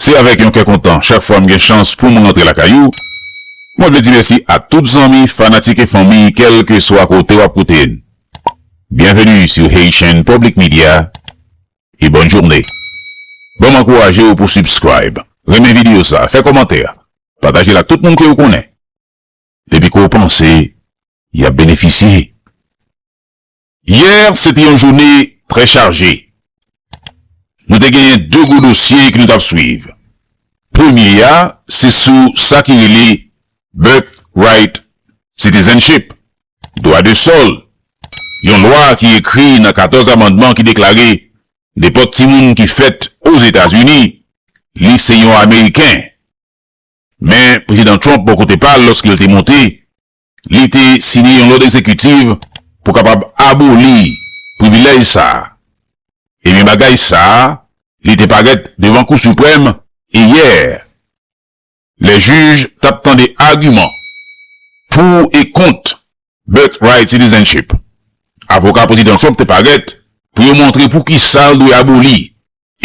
Se avèk yon kè kontan chak fwa m gen chans pou m rantre lakay ou. Mwen vle di mèsi a tout zanmi, fanatik e fanmi kèlkeswa kote w ap koute n. Byenveni sou Haitian Public Media e bòn journe. Ban m ankouraje w pou subscribe, renmen video sa, fè kòmantè, pataje l ak tout moun ke ou konnen depi ke w panse y ap benefisye. Yè se te yon joune trè chaje. Nou te genyen 2 gwo dosye ki nou t ap swiv. Premye a se sou sa ki rele Birth Right Citizenship, Dwa de Sòl, yon lwa ki ekri nan 14 amandman ki deklare nenpòt timoun ki fèt Ozetazini, li se yon Ameriken. Men Prezidan Trump bò kote pa l lòske l te monte, Li te siyen yon lòd egzekitiv pou kapab aboli privilèj sa a. Ebyen bagay sa a li te parèt devan Kou Siprèm yè lè jij t ap tande agiman pou e kont Birthright Citizenship. Avoka Prezidan Trump te parèt pou yo montre poukisa l dwe aboli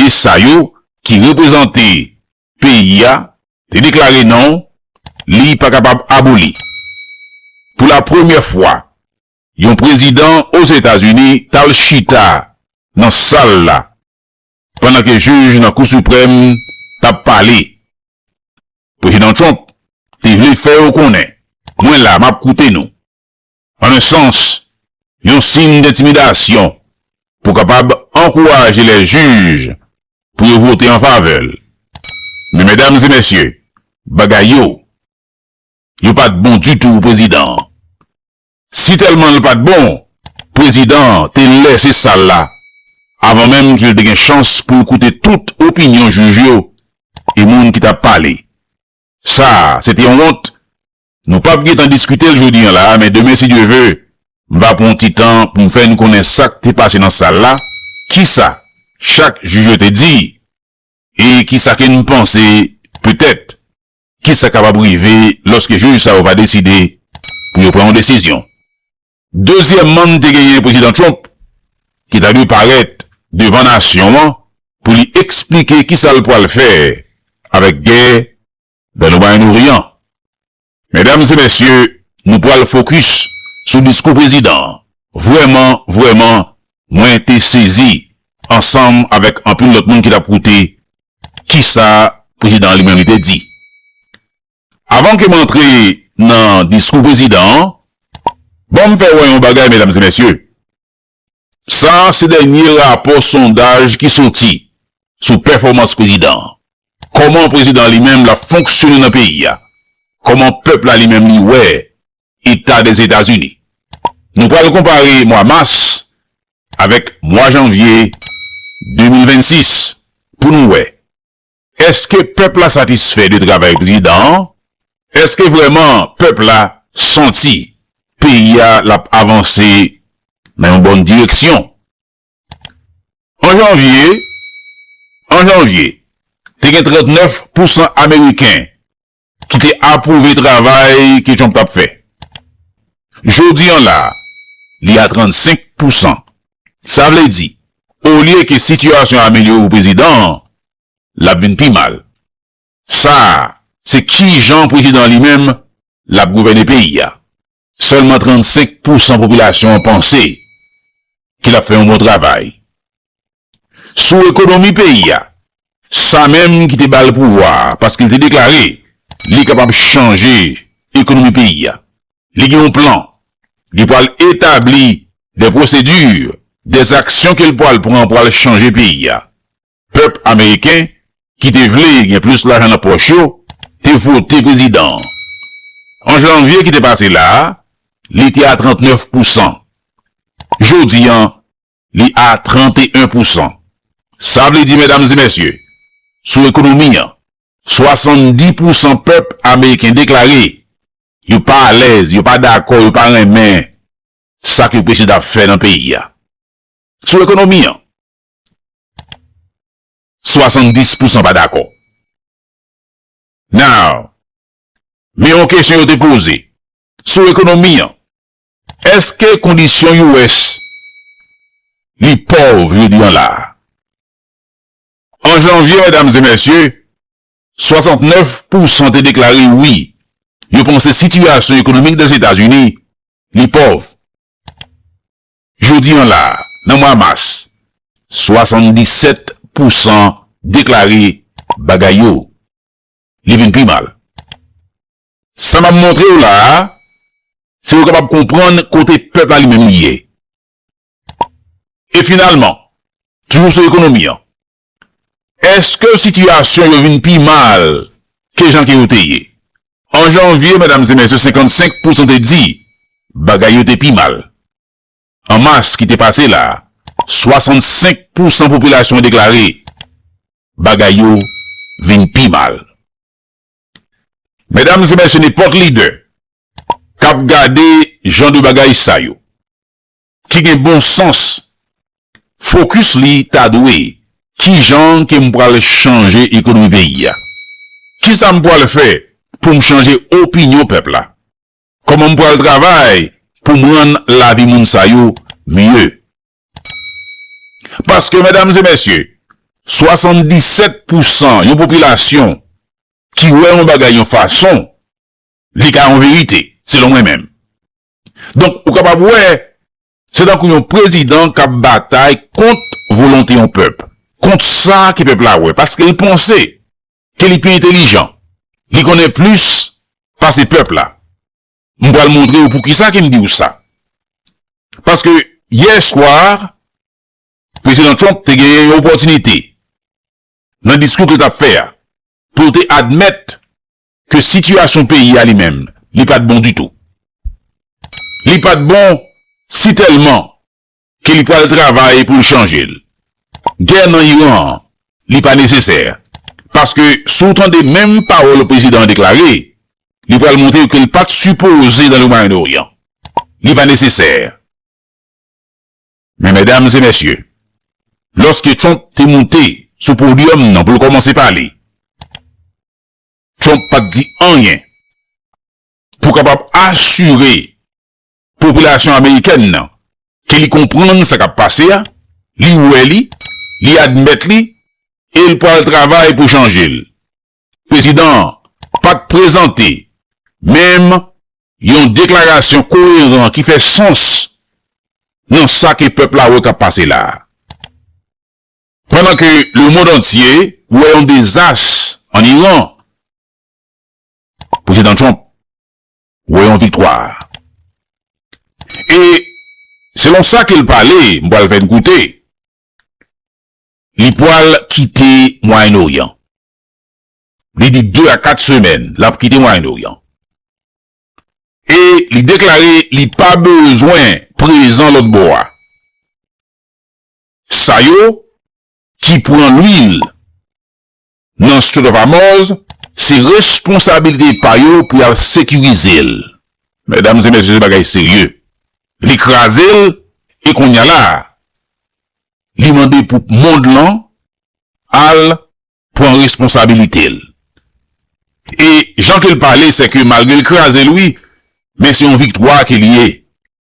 e sa yo ki reprezante peyi a te deklare non li pa kapab aboli. Pou la premyè fwa, yon prezidan Ozetazini t al chita nan sal la pandan ke jij nan Kou Siprèm t ap pale. Prezidan Trump te vle fè yo konnen, Mwen la, m ap koute nou. an un sans, yon sin dentimidasyon pou kapab ankouraje lè jij pou yo vote an favè l. Men medam e mesye, bagay yo, yo pa t bon ditou pou prezidan an. Si tèlman l pa t bon, prezidan an te lèse sal la avan menm ki l te gen chans pou l koute tout opinyon jij yo e moun ki t ap pale. Sa a se te yon wont Nou pap gentan diskite l jodi an la a men demen si Dye ve, m va pran yon ti tan pou m fè nou konnen sa k te pase nan sal la, kisa chak jij yo te di e kisa ke n panse petèt kisa kapab rive lòske jij sa yo va deside pou yo pran yon desizyon. Dezyèmman te genyen Prezidan Trump ki ta dwe parèt devan nasyon an pou li eksplike kisa l pral fè avèk gè dan nou bay nou ri an. Medam e mesye, nou pral fokis sou diskou prezidan an. Vrèman, vrèman, mwen te sezi ansanm avèk anpil lòt moun ki t ap koute kisa prezidan an li menm li te di. Avan ke m antre nan diskou prezidan an, ban m fè wè yon bagay medam e mesye. Sa a se dènye rapò sondaj ki soti sou pèfòmans prezidan an. Kòman prezidan an li menm l ap fonksyone nan peyi a? Kòman pèp la li menm li wè eta Dèzetazini? Nou pral konpare mwa mas avèk mwa janvye 2026 pou nou wè Eske pèp la satisfè de travay prezidan an? Eske vrèman pèp la santi peyi a l ap avanse nan yon bòn direksyon? An janvye, an janvye, te gen 39 pousan ameriken ki te apwouve travay ke Trump t ap fè. Jodi an la, li a 35 pousan. Sa vle di, olye ke sitiyasyon an amelyore pou prezidan an, l ap vin pi mal. Sa a, se kijan prezidan an li menm l ap gouvène peyi a. Sèlman 35 pousan popilasyon an panse ke l ap fè yon bon travay. Sou ekonomi peyi a, sa menm ki te ba l pouvwa a, paske l te deklare li kapab chanje ekonomi peyi a, li gen yon plan, li pral etabli de pwosedi, de zaksyon ke l pral pran pou al chanje peyi a. Pèp ameriken ki te vle gen plis lajan nan pòch yo te vote prezidan an. An janvye ki te pase la a, li te a 39 pousan. Jodi an, li a 31 pousan. Sa vle di, medam e mesye, sou ekonomi an, 70 pousan pèp ameriken deklare yo pa alèz, yo pa dakò, yo pa renmen sa ke prezidan ap fè nan peyi a. Sou ekonomi an, 70 pousan pa dakò. Now, men yon kesyon yo te poze sou ekonomi an, Eske kondisyon US li pòv jodi an la a? An janvye, medam e mesye, 69 pousan te deklare wi, yo panse sitiyasyon ekonomik Dèzetazini li pòv. Jodi an la, nan mwa mas, 77 pou san deklare bagay yo, li vin pi mal. Sa m ap montre w la a, se ou kapab konprann kote pèp la li menm li ye. E finalman, toujou sou ekonomi an, Èske sitiyasyon yo vin pi mal ke jan ke yo te ye? An janvye, medam e mesye, 55 pousan te di bagay yo te pi mal. An mas ki te pase la, 65 pousan popilasyon an deklare bagay yo vin pi mal. Medam e mesye, nenpòt lidè kap gade jan de bagay sa yo, ki gen bon sans focus li ta dwe kijan ke m pral chanje ekonomi peyi a? Kisa m pral fè pou m chanje opinyon pèp la? Kòman m pral travay pou m rann lavi moun sa yo mye? Paske medam e mesye 77 pou san yon popilasyon ki wè yon bagay yon fason li ka yon verite selon mwen menm Donk, ou kapab wè, se tankou yon prezidan kap batay kont volonte yon pèp, kont sa ke pèp la wè, paske li panse ke li pi entelijan, li konnen plis pase pèp la. M pral montre ou poukisa ke m di ou sa. Paske, yè swa, Prezidan Trump te genyen yon opòtinite, nan diskou ke li tap fè a, pou te admèt ke sitiyasyon peyi a li menm, li pa t bon ditou. Li pa t bon si tèlman ke li pral travay pou l chanje l. Gè nan Iran an, li pa nesesè, paske si w tande menm pawòl prezidan an deklare, li pral montre ke l pa t sipoze nan le Mwayen Oryan. Li pa nesesè. Men mèdames et mèsye, lòske Trump te moute sou podyòm nan pou l kòmanse pale, Trump pa t di anyen pou kapab asire popilasyon amerikèn nan ke li konprann sa k ap pase a, li wè li, li admèt li e l pral travay pou chanje l. Prezidan an pa t prezante menm yon deklarasyon koyeran ki fè sans nan sa ke pèp la wè k ap pase la a. Pandan ke lemond antye wè yon dezas an Iran, Prezidan Trump wè yon viktwa. E selon sa ke l pale, m pral fè n koute, li pral kite Mwayen Oryan. Li di 2 a 4 semèn l ap kite Mwayen Oryan. E li deklare li pa bezwen prezan lòtbò a. Sa yo ki pran lwil nan Strait of Hormuz se responsabilite pa yo pou y al sekirize l. Medam e mesye se bagay serye. Li kraze l e konnya la a li mande pou mond lan al pran responsabilite l. E jan ke l pale se ke malgre l kraze l wi men se yon viktwa ke li ye.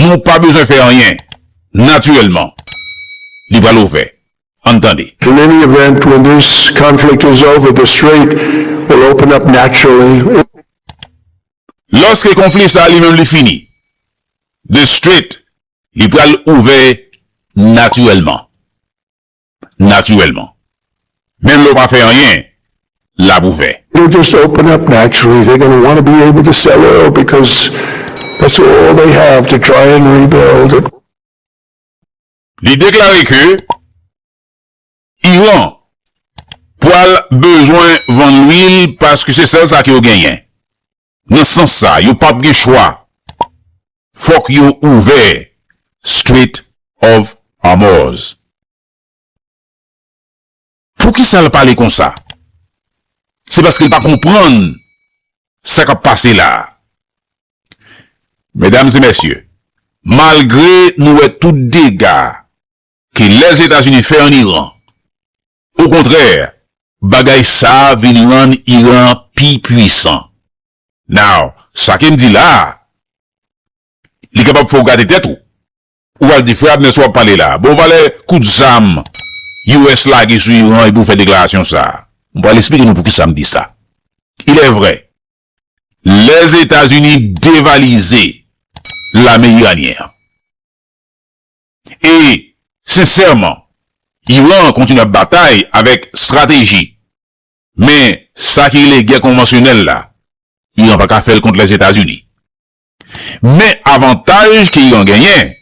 Nou pa bezwen fè anyen, natirèlman, li pral ouvè. Ann tande. In any event, when this conflict is over, the strait will open up naturally. Lòske konfli sa a li menm li fini, the strait, li pral ouvè natirèlman. natirèlman. Menm lè w pa fè anyen, l ap ouvè. Yo just open up naturally, they gonna wanna be able to sell oil because that's all they have to try and rebuild. Li deklare ke Iran pwal bezwen vann lwil paske se sèl sa ke yo genyen. Nan sans sa yo pap gen chwa fòk yo ouvè Strait of Hormuz. Poukisa l pale konsa? Se paske l pa konprann sa k ap pase la a. Medam e mesye, malgre nou wè tout dega ke Lèzetazini fè an Iran, Okontrè, bagay sa vin rann Iran pi pwisan. Now, sa ke m di la a, li kapab fè w gate tèt ou. Ou pral di, Frè Abner, sa w ap pale la a? Bon valè kout zam US lage sou Iran epi w fè deklarasyon sa a? M pral esplike nou poukisa m di sa. Ilèvrè, Lèzetazini devalize lame iranyen an. E, sensèman, Iran an kontinye ap batay avèk strateji. Men, sa ki rele gè konvansyonèl la, Iran pa ka fè l kont Lèzetazini. Men avantaj ke Iran genyen,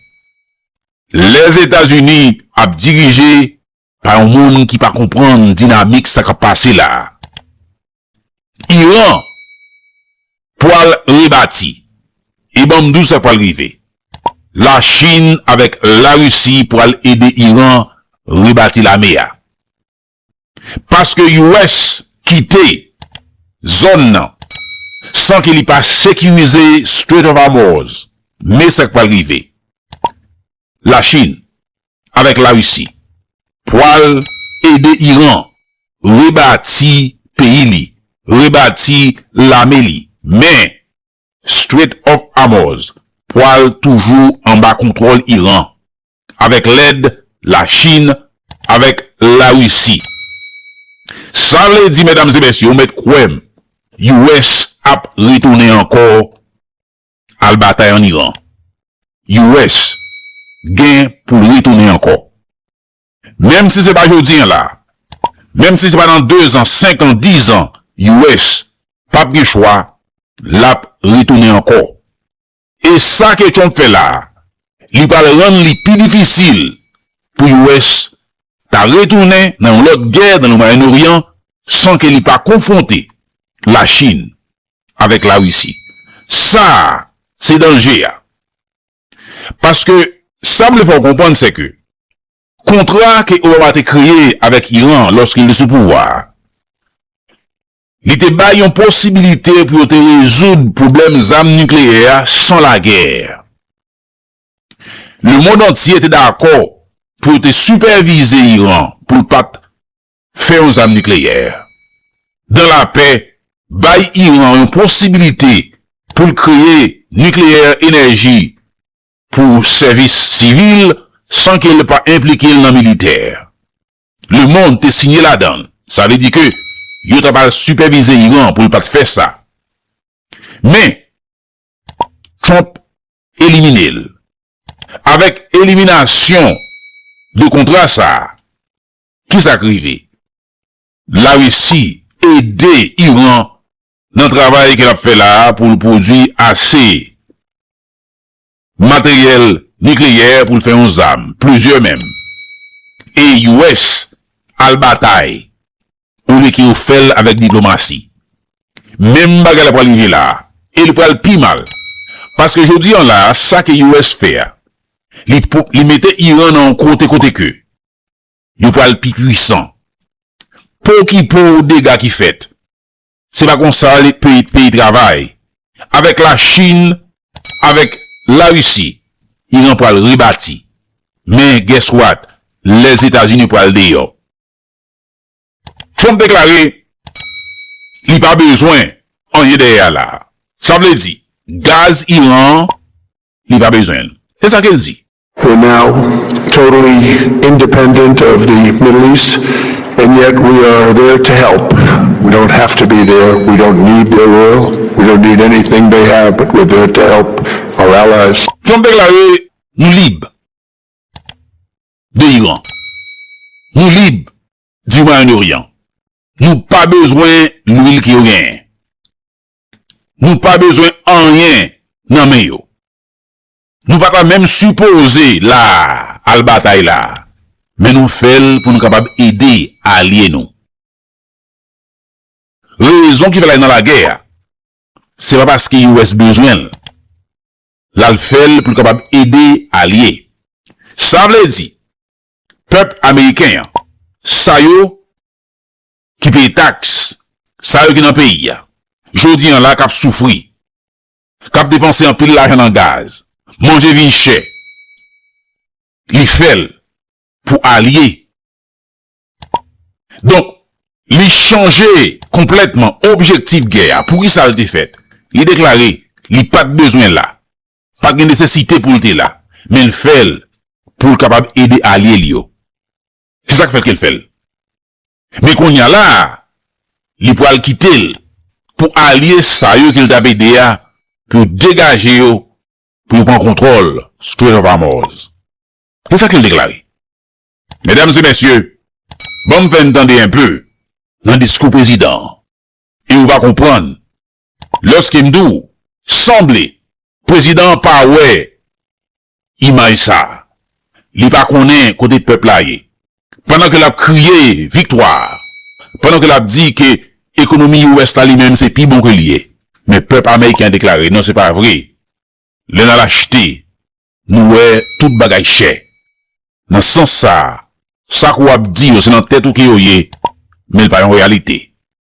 Lèzetazini ap dirije Pa yon moun ki pa konprann dinamik sa kap pase la. Iran pwal rebati. E banm di w sa k pwal rive. La Chin avèk la Risi pwal ede Iran rebati lame a. Paske US kite zòn nan san ke li pa sekirize Strait of Hormuz. Men sa k pwal rive. Lachin avèk Larisi pwal ede Iran rebati peyi li, rebati lame li men Strait of Hormuz pwal toujou anba kontwòl Iran avèk lèd Lachin avèk Larisi. Sa vle di medam e mesye ou mèt kwè m US ap retounen ankò Al batay an Iran. US gen pou l retounen ankò. Menm si se pa jodi an la. Menm si se pa nan dezan, senkan, dizan. US pap gen chwa, l ap retounen ankò. E sa ke Trump fè la a, li pral rann li pi difisil pou US ta retounen nan yon lòt gè nan Moyen Oryan san ke li pa konfwonte Lachin avèk la Risi. Sa a se danje a. Paske sa m vle fè w konprann se ke kontra ke Obama te kreye avèk Iran lòske li te sou pouvwa a, li te bay yon posibilite pou yo te rezoud pwoblèm zam nikleyè a san lagè. Lemond antye te dakò pou yo te sipèvize Iran pou l pa t fè yon zam nikleyè. Dan lapè bay Iran yon posibilite pou l kreye nikleyè enèji pou sèvis sivil san ke l pa enplike l nan militè. Lemond te siyen ladan, sa vle di ke yo ta pral sipèvize Iran pou l pat fè sa. Men Trump elimine l. Avèk eliminasyon de kontra sa, Kisa k rive? Larisi ede Iran nan travay ke l ap fè la a pou l pwodui ase materyèl nikleyè pou l fè yon zam, plizyè menm. E US al batay olye ke yo fè l avèk diplomasi. Menm bagay la pral rive la a. E li pral pi mal. Paske jodi an la a, sa ke US fè a, li mete Iran nan yon kote kote ke yo pral pi pwisan. Pokipo ou dega ki fèt. Se pa konsa peyi travay. Avèk la Chine, avèk la Russie, Iran pral rebati. Men guess what, Lèzetazini pral deyò. Trump deklare li pa bezwen anyen dèyè a la. Sa vle di gaz Iran an, li pa bezwen l. Se sa ke l di. We're now totally independent of the Middle East and yet we are there to help. We don't have to be there. We don't need their oil. We don't need anything they have but we're there to help our allies. Trump deklare Nou lib de Iran. Nou lib di Moyen Oryan. Nou pa bezwen lwil ke yo genyen. Nou pa bezwen anyen nan men yo. Nou pa ta menm sipoze la a, al batay la a. Men nou fè l pou nou kapab ede alye nou. Rezon ki fè l al nan lagè a, se pa paske US bezwen l. L al fè l pou l kapab ede alye. Sa vle di, pèp ameriken an, sa yo ki peye taks, sa yo ki nan peyi a, jodi an la k ap soufri, k ap depanse anpil lajan nan gaz, manje vin chè, li fè l pou alye. Donk, li chanje konplètman objektif gè a. Poukisa l te fèt? Li deklare li pa t bezwen la, pa t gen nesesite pou l te la, men l fè l pou l kapab ede alye l yo. Se sa k fè ke l fè l. Men konnya la a, li pwal kite l pou alye sa yo ke l t ap ede a pou yo degaje yo pou yo pran kontwòl Strait of Hormuz. Se sa ke l deklare. Medam e mesye, ban m fè n tande enpe nan diskou prezidan an e ou va konprann lòske m di w sanble prezidan an pa wè Imaj sa a. Li pa konnen kote pèp la ye. Pandan ke l ap kriye viktwa. Pandan ke l ap di ke ekonomi US la li menm se pi bon ke li ye. Men pèp Ameriken an deklare, non se pa vre. Lè n al achte, nou wè tout bagay chè. Nan sans sa a, sa ke w ap di yo se nan tèt ou ke yo ye, men li pa yon reyalite.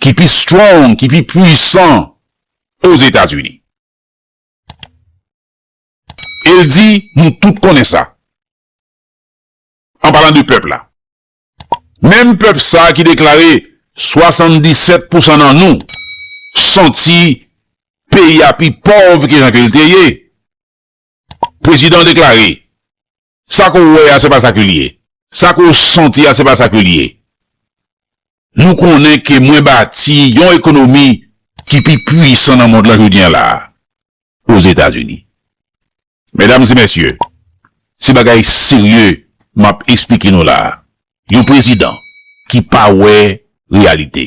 ki pi strong, ki pi pwisan Ozetazini. E l di, nou tout konnen sa. An palan de pèp la. Menm pèp sa ki deklare 77 pousan nan nou santi peyi a pi pòv ke jan ke l te ye. Prezidan deklare, Sa ke w wè a se pa sa ke li ye. Sa ke w santi a se pa sa ke li ye. Nou konnen ke mwen bati yon ekonomi ki pi pwisan nan mond la jodi an la a, Ozetazini. Medam e mesye, se bagay serye m ap esplike nou la a. Yon prezidan ki pa wè reyalite.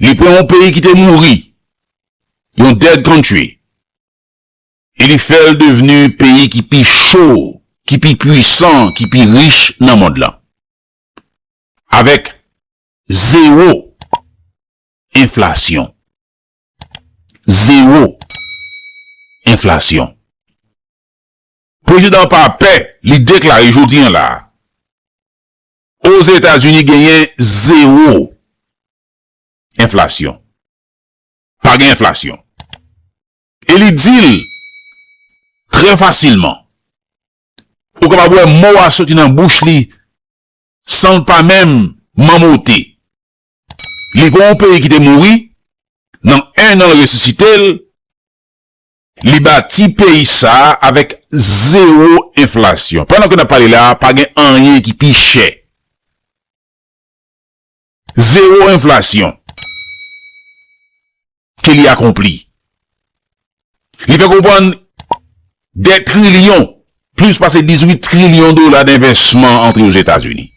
li pran yon peyi ki te mouri, yon dead country, e li fè l devni peyi ki pi cho, ki pi pwisan, ki pi rich nan mond lan. Avèk zewo enflasyon. Zewo enflasyon. Prezidan an pa pè, li deklare jodi an la a, Ozetazini genyen zewo enflasyon. Pa gen enflasyon. E li di l trè fasilman. Ou kapab wè mo a soti nan bouch li san l pa menm manmote. Li gen yon peyi ki te mouri, nan ennan l resisite l. Li bati peyi sa a avèk zewo enflasyon. Pandan ke n ap pale la a, pa gen anyen ki pi chè. Zewo enflasyon ke li akonpli. Li fè konprann dè trilyon, plis pase 18 trilyon dola denvèsman antre Ozetazini.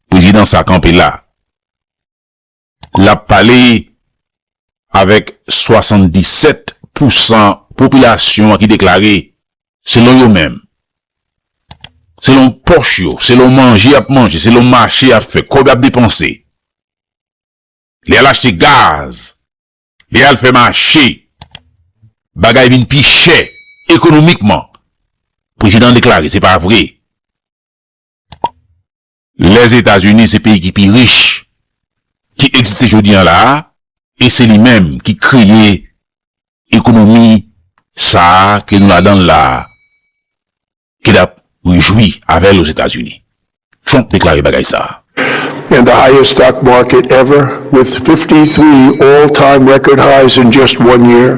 Prezidan sa a kanpe la a. L ap pale avèk 77 pousan popilasyon an ki deklare, selon yo menm, selon pòch yo, selon manje y ap manje, selon mache y ap fè, kòb y ap depanse, lè y al achte gaz, lè y al fè mache, bagay vin pi chè ekonomikman. Prezidan an deklare se pa vre. Lèzetazini se peyi ki pi rich ki egziste jodi an la a e se li menm ki kreye ekonomi sa a ke nou ladan l la a ke n ap rejwi avè l Ozetazini. Trump deklare bagay sa a. And the highest stock market ever, with fifty three all-time record highs in just one year.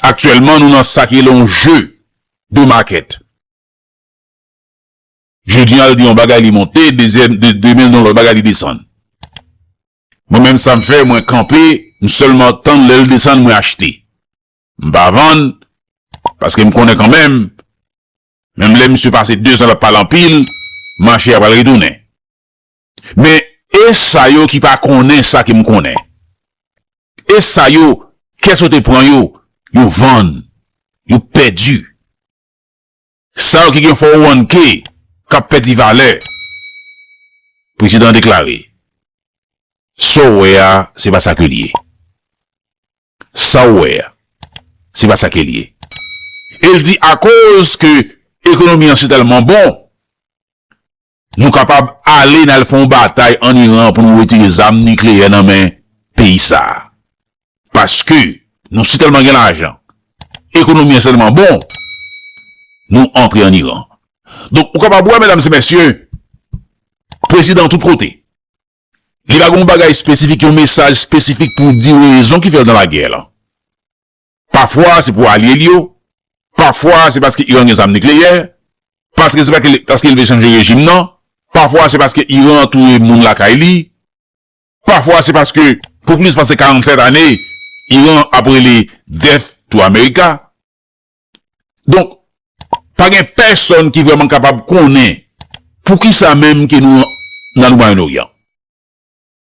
Aktyèlman nou nan sa ki rele yon jeu de market. Jodi an l di yon bagay li monte, demen l di yon lòt bagay li desann. Mwen menm sa m fè, mwen kanpe, m sèlman tann lè l desann mwen achte. M pa vann, paske m konnen kanmenm, menm lè misye pase dezan l ap pale anpil, mache a pral retounen. Men, e sa yo ki pa konnen sa ke m konnen? E sa yo, kè sote pran yo, yo vann, yo pèdi? Sa yo ki gen fòwannke k ap pèdi valè? Prezidan an deklare, Sa w wè a, se pa sa ke l ye. Sa w wè a, se pa sa ke l ye. E l di akoz ke ekonomi an si tèlman bon, Nou kapab ale nal fè yon batay an Iran pou nou retire zam nikleyè nan men peyi sa. Paske nou si tèlman gen lajan, ekonomi an si tèlman bon, nou antre an Iran. Donk ou kapab wè medam se mesye, prezidan tout kote. Li pa gen yon bagay espesifik, yon mesaj espesifik pou di rezon ki fèl nan lagè lan. Pafwa se pou alye li yo, pafwa se paske Iran gen zam nikleyè, paske se paske li vle chanje rejim nan, pafwa se paske Iran touye moun lakay li, pafwa se paske pou plis pase 47 ane Iran ap rele death to America. Donk, pa gen pèsonn ki vreman kapab konnen poukisa menm ke nou nan nou Moyen-Orient.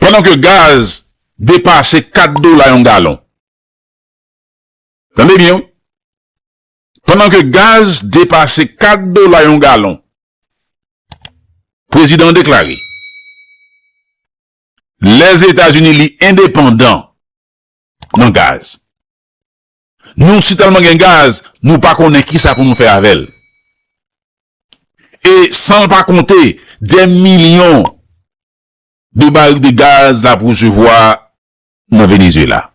Pandan ke gaz depase 4 dola yon galon. Tande byen wi. Pandan ke gaz depase 4 dola yon galon. Prezidan an deklare. Lèzetazini li endepandan nan gaz. Nou si tèlman gen gaz, nou pa konnen ki sa pou nou fè avè l. E san l pa konte 2 milyon de barik de gaz lap resevwa nan Venezyela.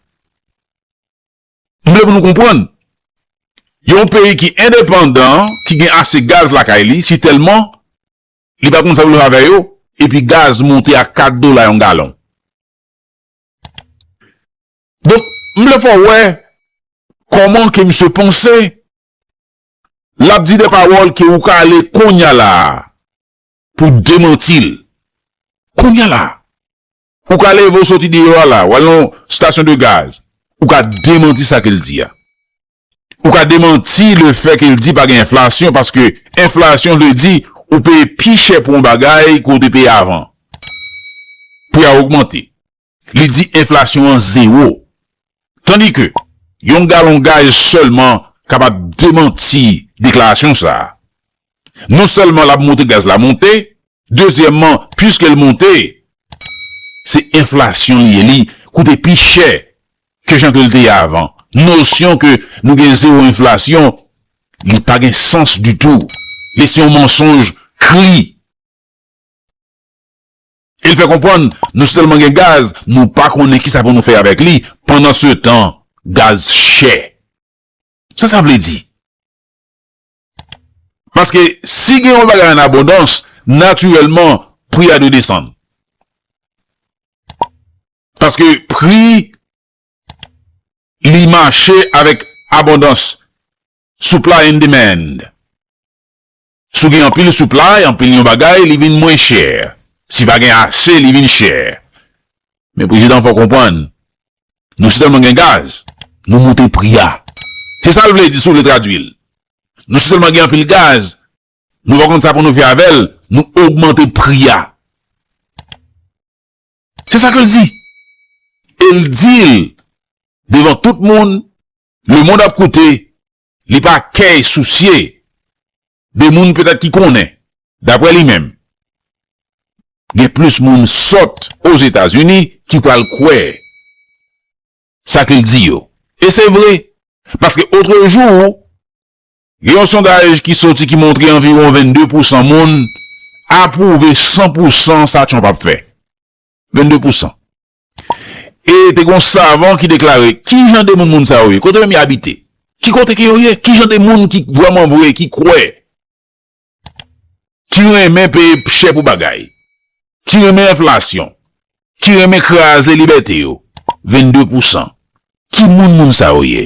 M vle pou nou konprann, yon peyi ki endepandan, ki gen ase gaz lakay li, si tèlman li pa konn sa pou l fè avè yo, epi gaz monte a 4 dola yon galon. Donk, m vle fè w wè kòman ke misye panse, lap di de pawòl ke ou ka ale konnya la a, pou demanti l. Kounya la, ou ka leve ou soti deyò a la, ou al nan yon stasyon de gaz, ou ka demanti sa ke l di a. Ou ka demanti le fè ke l di pa gen enflasyon, paske enflasyon vle di ou peye pi chè pou yon bagay ke ou te peye avan. Pri a ogmante. Li di enflasyon an zewo. Tandi ke yon galon gaz sèlman kapab demanti deklarasyon sa a. Non sèlman l ap montre gaz la monte, dezyèmman puiske l monte, se enflasyon li ye, li koute pi chè ke jan ke l te ye avan. Nosyon ke nou gen zewo enflasyon, li pa gen sans ditou. Li se yon mansonj kri. E l fè konprann nou sèlman gen gaz, nou pa konnen kisa pou nou fè avèk li, pandansetan gaz chè. Sa sa vle di? Paske si gen yon bagay an abondans, natirèlman pri a dwe desann. Paske pri li mache avèk abondans, supply and demand. Si w gen anpil supply, anpil yon bagay, li vin mwen chè. Si pa gen ase, li vin chè. Men prezidan fò w konprann, nou si tèlman gen gaz, nou moute pri a. Se sa l vle di si w vle tradui l. Nou si tèlman gen anpil gaz, nou pa konn sa pou nou fè avè l, nou ogmante pri a. Se sa ke l di. E l di l devan tout moun, lemond ap koute, Li pa key sousye de moun petèt ki konnen. Daprè li menm, gen plis moun sòt Ozetazini ki pral kwè sa ke l di yo. E se vre, paske otrejou, gen yon sondaj ki soti ki montre anviwon 22 pousan moun apwouve san pousan sa Trump ap fè. 22 pousan. E te gon savan ki deklare, Ki jan de moun moun sa yo ye? Kote menm y abite? Ki kote ke yo ye? Ki jan de moun ki vrèman vre, ki kwè, ki renmen peye chè pou bagay, ki renmen enflasyon, ki renmen kraze libète yo? 22 pousan. Ki moun moun sa yo ye?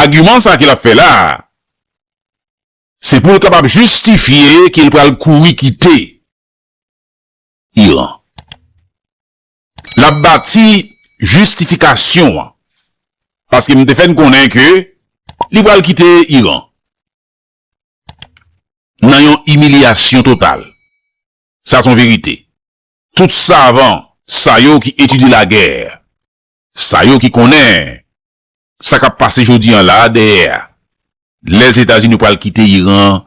Agiman sa ke l ap fè la a, se pou l kapab jistifye ke l pral kouri kite Iran. L ap bati jistifikasyon an, paske m te fè n konnen ke li pral kite Iran nan yon imilyasyon total. Sa se yon verite. Tout savan sa yo ki etidye lagè, sa yo ki konnen sa k ap pase jodi an la a dèyè a. Lèzetazini pral kite Iran an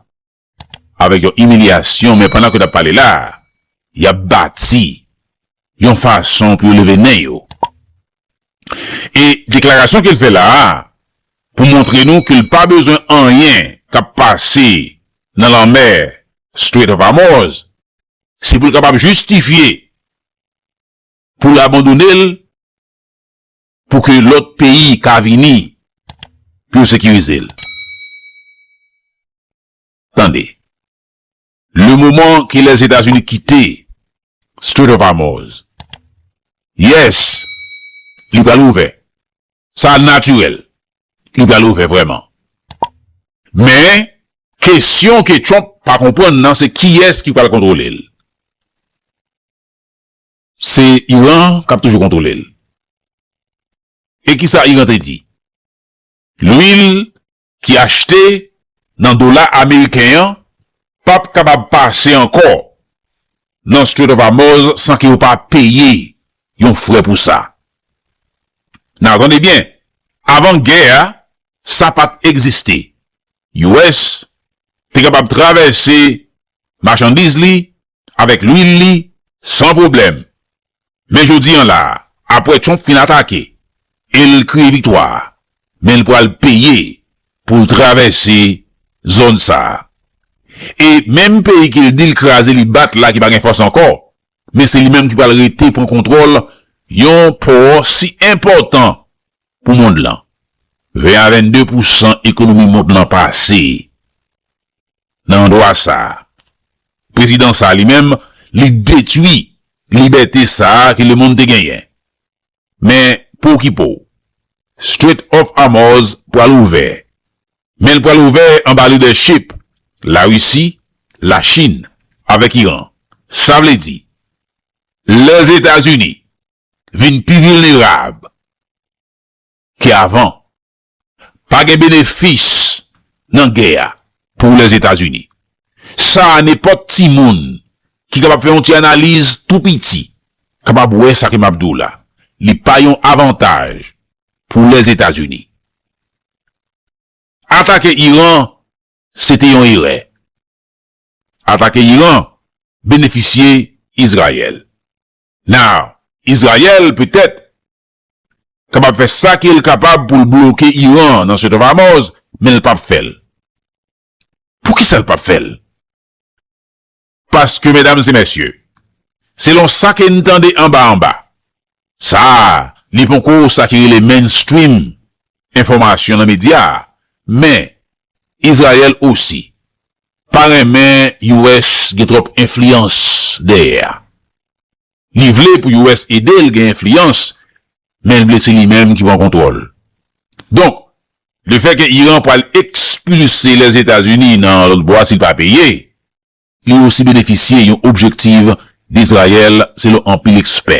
avèk yon imilyasyon men pandan ke n ap pale la a, y ap bati yon fason pou yo leve nen yo. E deklarasyon ke l fè la a pou montre nou ke l pa bezwen anyen k ap pase nan lanmè Strait of Hormuz, se pou l kapab jistifye pou l abandone l, pou ke lòt peyi ka vini pou yo sekirize l. Tande, le moman ke Lèzetazini kite Strait of Hormuz, yes, li pral ouvè, sa natirèl, li pral ouvè vrèman. Men, kesyon ke Trump pa konprann nan se kiyès ki pral kontwole l. Se Iran k ap toujou kontwole l. E ki sa Iran te di? Lwil ki achte nan dola ameriken an p ap kapab pase ankò nan Strait of Hormuz san ke yo pa peye yon frè pou sa. Nan, tande byen, avan gè a, sa pa t egziste. US te kapab travèse machandiz li avèk lwil li san pwoblèm. Men jodi an la, apwè Trump fin atake e l kriye viktwa, men l pwal peye pou l travèse zòn sa. E menm peyi ke l di l kraze li bat la ki pa gen fòs ankò, men se li menm ki pwal rete pran kontwòl yon pò si enpòtan pou mond lan. 20 a 22 pousan ekonomi mond lan pase. nan andwa sa a. Prezidan sa a li menm, li detwi libète sa a ke lemonn te genyen. Men, pou okipe w, Strait of Hormuz pral ouvè, men l pral ouvè anba lidèchip Larisi, Lachin avèk Iran. Sa vle di, Lèzetazini vin pi vilnerab ke avan. Pa gen benefis nan gè a pou Lèzetazini. Sa a nenpòt timoun ki kapab fè yon ti analiz tou piti kapab wè sa ke m ap di w la. Li pa yon avantaj pou Lèzetazini. Atake Iran se te yon erè. Atake Iran benefisye Izrayèl. Now, Izrayèl petèt kapab fè sa ke l kapab pou l bloke Iran nan Strait of Hormuz, men l pap fè l. Poukisa l pap fè l? Paske medam e mesye, selon sa ke n tande anba anba, sa a li ponko sa ki rele mainstream enfòmasyon nan medya, men Izrayèl osi pa renmen US gen twòp enfliyans dèyè a. Li vle pou US ede l gen enfliyans, men l vle se li menm ki pran kontwòl. Donk, le fè ke Iran pral ekspilse Lèzetazini nan lòt bwa si l pa peye, li osi benefisye yon objektiv Dizrayèl selon anpil ekspè.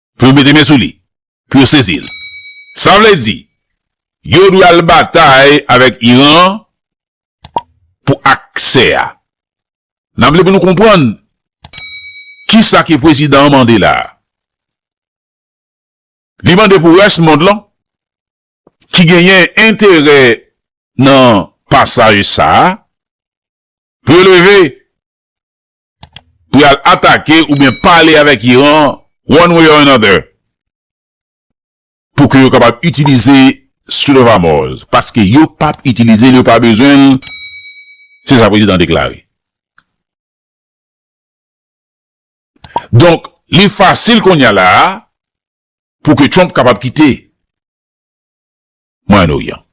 pou yo mete men sou li, pou yo sezi l. Sa vle di, yo dwe al batay avèk Iran pou aksè a. N ap vle pou nou konprann ki sa ke prezidan an mande la a. Li mande pou rès mond lan ki genyen enterè nan pasaj sa a pou yo leve pou y al atake oubyen pale avèk Iran one way or another pou ke yo kapab itilize Strait of Hormuz paske yo p ap itilize l, yo pa bezwen l, se sa prezidan an deklare. Donk, li fasil kounya la a pou ke Trump kapab kite Mwayen Oryan.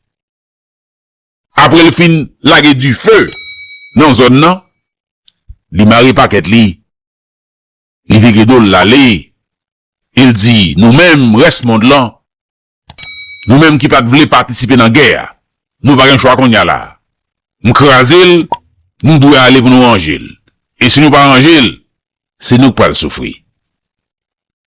Apre l fin lage dife nan zòn nan, li mare pakèt li, li vire do l l ale e l di, Nou menm rès mond lan, nou menm ki pa t vle patisipe nan gè a, nou pa gen chwa kounye a la a. M kraze l, nou dwe ale pou nou ranje l. E si nou pa ranje l, se nou k pral soufri.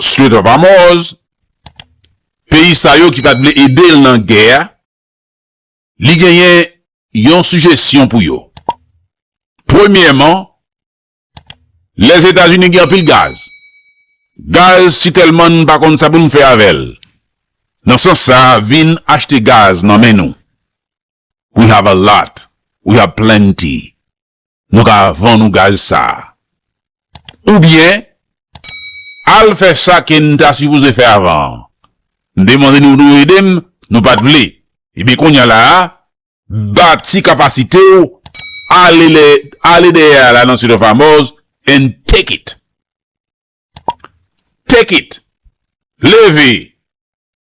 Strait of Hormuz, peyi sa yo ki pa t vle ede l nan gè a, li genyen yon sijesyon pou yo. Premyèman, Lèzetazini gen anpil gaz. Gaz si tèlman n pa konn sa pou n fè avè l. Nan sans sa, vin achte gaz nan men nou. We have a lot, we have plenty. nou ka vann ou gaz sa a. Oubyen, al fè sa ke n ta sipoze fè avan an. M te mande nou pou nou ede m, nou pa t vle. Ebyen kounya la a, bati kapasite w, ale dèyè a la nan City of Amòz and take it! Take it! Leve!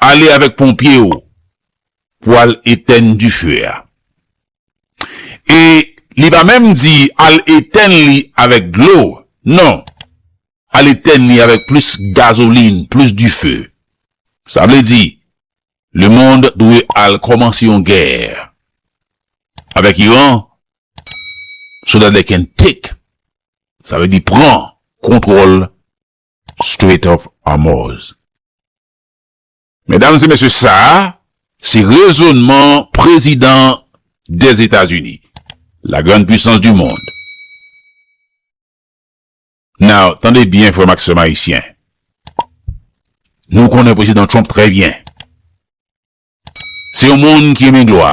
Ale avèk ponpye yo pou al etèn dife a. E li pa menm di al etèn li avèk dlo, non, al etèn li avèk plis gazolin, plis dife. Sa vle di, lemonn dwe al kòmanse yon gè avèk Iran, so that they can take, sa vle di pran kontwòl Strait of Hormuz. Medam e mesye sa a se rezonman prezidan des Etats Unis, la grande puissance du monde. Now, tande byen frè m ak sè m ayisyen. Nou konnen prezidan Trump trè byen. Se yon moun ki renmen glwa.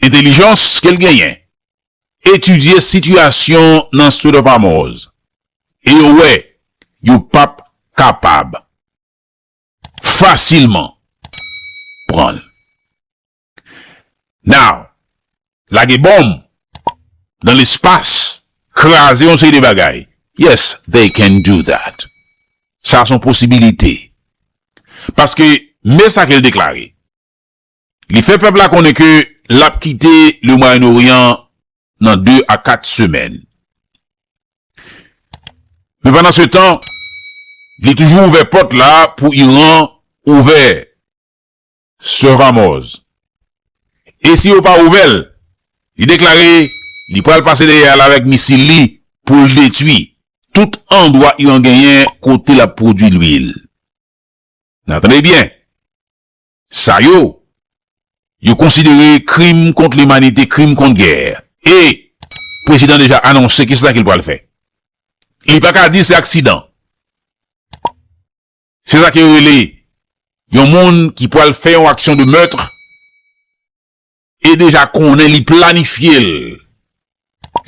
entelijans ke l genyen, etidye sitiyasyon nan Strait of Hormuz e yo wè yo p ap kapab fasilman pran l. Now, lage bonm nan lespas, kraze yon seri de bagay, yes, they can do that. Sa se yon posibilite. Paske, men sa ke l deklare. Li fè pèp la konnen ke l ap kite Le Mwayen Oryan nan 2 a 4 semèn. Men pandan se tan, li toujou ouvè pòt la pou Iran ouvè Strait Hormoz. E si yo pa ouvè l, li deklare li pral pase dèyè al avèk misil li pou l detwi tout andwa Iran genyen kote l ap pwodwi lwil. Nan tande byen! Sa yo, yo konsidere krim kont limanite, krim kont gè. E, prezidan deja anonse ki sa ke li pral fè. Li pa ka di se aksidan. Se sa ke yo rele yon moun ki pral fè yon aksyon de meurtre e deja konnen li planifye l,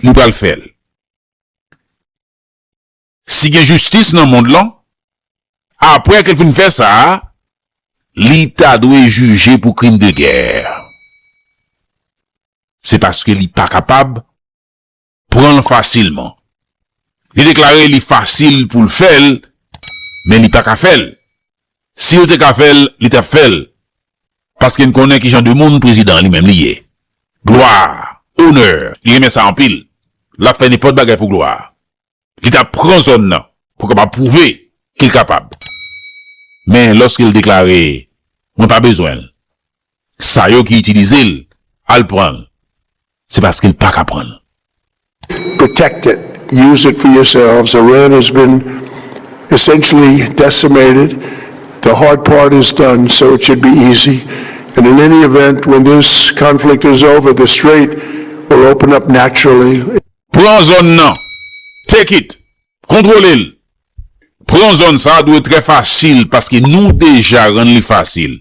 li pral fè l. si gen jistis nan mond lan, apre ke l fin fè sa, li ta dwe jije pou krim de gè. Se paske li pa kapab pran l fasilman. Li deklare li fasil pou l fè l, men li pa ka fè l. Si l te ka fè l, li t ap fè l. Paske n konnen ki jan de moun prezidan an li menm li ye. Glwa, onè, li renmen sa anpil. L ap fè nenpòt bagay pou glwa. Li ta pran zòn nan pou kapab pwouve ke l kapab. Men lòske l deklare mwen pa bezwen l, sa yo ki itilize l al pran l, se paske l pa ka pran l. Protect it, use it for yourselves, Iran has been essentially decimated, the hard part is done, so it should be easy. And in any event, when this conflict is over, the strait will open up naturally. Pran zòn nan. Take it. Kontwole l. Pran zòn sa dwe trè fasil paske nou deja rann li fasil.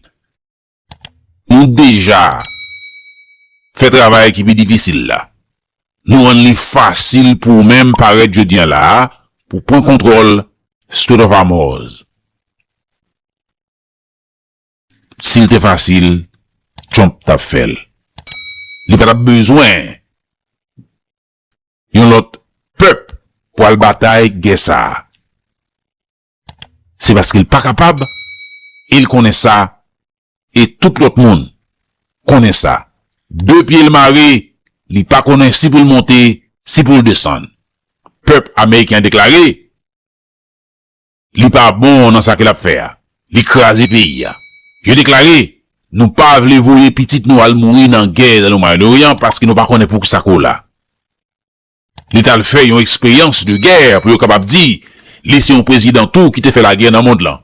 Nou deja fè travay ki pi difisil la. Nou rann li fasil pou ou menm parèt jodi an la a pou pran kontwòl Strait of Hormuz. Sil te fasil Trump tap fèl. Li patap bezwen yon lòt pèp pou al batay gè sa. Se paske l pa kapab e l konnen sa e tout lòt moun konnen sa. De pye l mare li pa konnen si pou l monte si pou l desann. Pèp ameriken deklare. Li pa bon nan sa ke lap fè a. Li kraze peyi a. Yo deklare, Nou pa vle voye pitit nou al mouri nan gè nan le Moyen Orient paske nou pa konnen poukisa ko la. Li tal fè yon eksperyans de gè pou yo kapab di li se yon prezidan tou ki te fè lagè nan mond lan.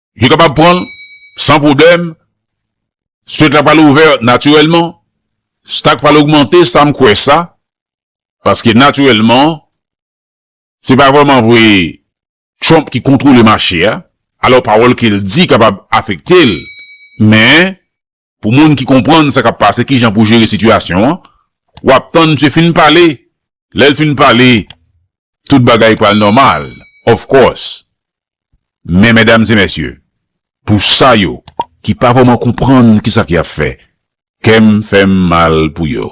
Yo kapab pran l san pwoblèm. Stret la pral ouvè natirèlman. Stak pral ogmante sa m kwè sa. Paske natirèlman se pa vrèman vre Trump ki kontwole mache a. Alò pawòl ke l di kapab afekte l. Men Pou moun ki konprann sa k ap pase kijan pou jere sitiyasyon an, w ap tann msye fin pale, lè l fin pale tout bagay pral nòmal of course. Men medam e mesye, pou sa yo ki pa vrèman konprann kisa ki ap fè, kè m fè m mal pou yo.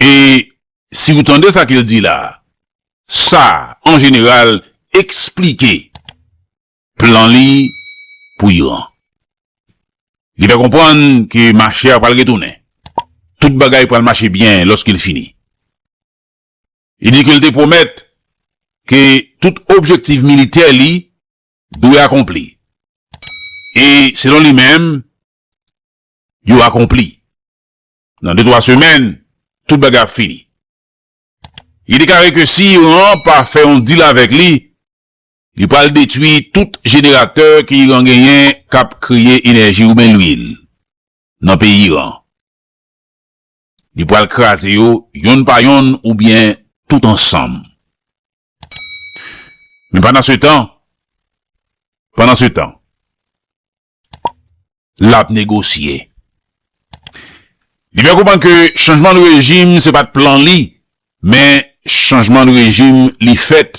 E si ou tande sa ke l di la a, sa, an jeneral, eksplike plan li pou Iran. Li fè konprann ke mache a pral retounen. Tout bagay pral mache byen lòske l fini. Li di ke l te pwomèt ke tout objektif militè li dwe akonpli. E, selon li menm, yo akonpli. Nan de twa semèn, tout bagay ap fini. Li deklare ke si Iran pa fè yon deal avèk li, li pral detwi tout jeneratè ke Iran genyen k ap kreye enèji oubyen lwil nan peyi Iran. Li pral kraze yo yonn pa yonn oubyen tout ansanm. Men pandansetan, pandansetan, l ap negosye. Li fè konprann ke chanjman rejim se pa t plan li, men chanjman rejim li fèt.